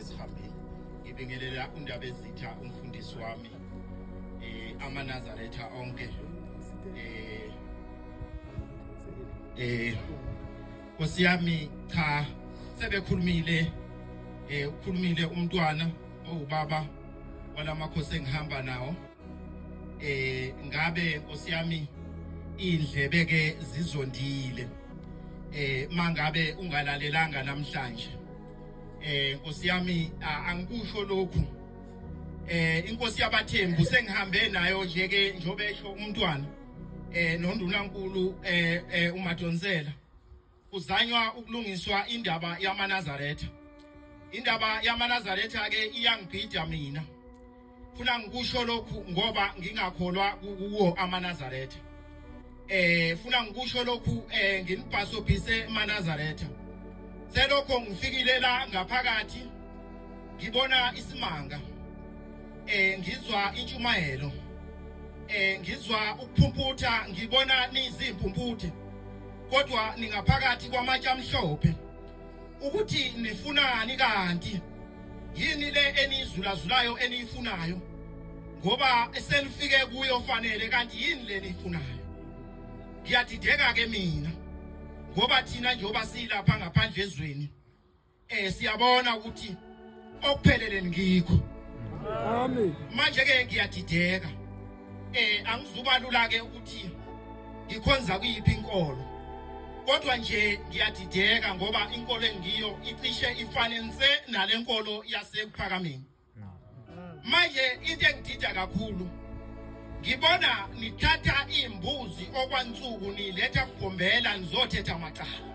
Sihambile. Ngibingelela undaba ezitha umfundisi wami eh amanazaretha onke eh eh Nkosi yami cha sebekhulumile eh ukhulumile umntwana owubaba walamakhosi engihamba nawo eh ngabe Nkosi yami indlebe ke zizondile eh mangabe ungalalelanga namhlanje eh nkosi yami angikusho lokhu eh inkosi yabathembu sengihambe nayo nje ke njobe esho umntwana eh nondunankulu eh, eh umadonsela kuzanywa ukulungiswa indaba yamanazaretha indaba yamanazaretha ke iyangibhida mina funa ngikusho lokhu ngoba ngingakholwa kuwo amanazaretha eh funa ngikusho lokhu eh nginibhasobhise amanazaretha selokho ngifikile la ngaphakathi ngibona isimanga eh ngizwa intshumayelo eh ngizwa ukuphumputha ngibona nizimpumputhe kodwa ningaphakathi kwamatsha amhlophe ukuthi nifunani kanti yini le enizulazulayo eniyifunayo ngoba esenifike kuyo fanele kanti yini le niyifunayo ngiyadideka ke mina ngoba thina njengoba silapha ngaphandle ezweni eh siyabona ukuthi okuphelele ngikho amen manje ke ngiyadideka eh angizubalula ke ukuthi ngikhonza kuyiphi inkolo kodwa nje ngiyadideka ngoba inkolo engiyo icishe ifane nse nalenkolo yasekuphakameni manje into engidida kakhulu ngibona nithatha imbuzi okwansuku niletha kugombela nizothetha macala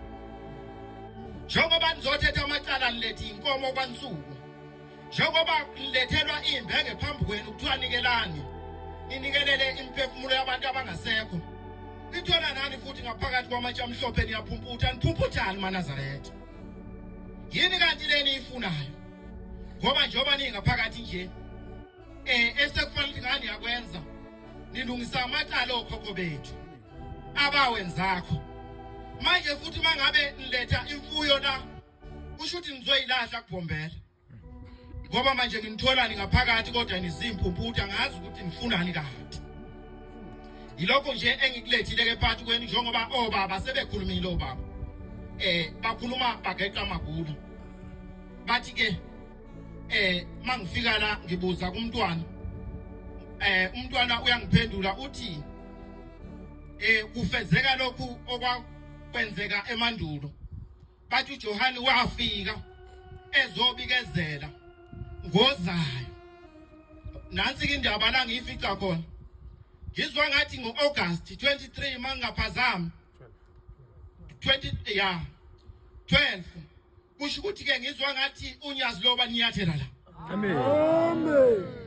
njengoba nizothetha amacala nilethe inkomo kwansuku njengoba nilethelwa imbenge phambi kwenu kuthiwa nikelani ninikelele imiphefumulo yabantu abangasekho nithola nani futhi ngaphakathi kwamatshe amhlophe niyaphumputha niphumputhani manazaretha yini kanti le niyifunayo ngoba njengoba ningaphakathi nje um esekufanele ukuthi ngani yakwenza nilungisa amacala okhokho bethu abawenzakho manje futhi mangabe niletha imfuyo la kusho ukuthi nizoyilahla kubhombela ngoba manje nginitholani ngaphakathi kodwa nizimpumputha ngazi ukuthi nifunani kade yilokho nje engikulethile ke phakathi kwenu njengoba obaba sebekhulumile obaba eh bakhuluma bageqa amagulu bathi ke eh mangifika la ngibuza kumntwana eh umntwana uyangiphendula uthi eh kufezeka lokhu okwakwenzeka emandulo bathi uJohane wafika ezobikezela ngozayo nansi ke indaba la ngiyifica khona ngizwa ngathi ngo-august 23 mangingaphazami 20 ya 12 kusho ukuthi ke ngizwa ngathi unyazi loba niyathela la amen amen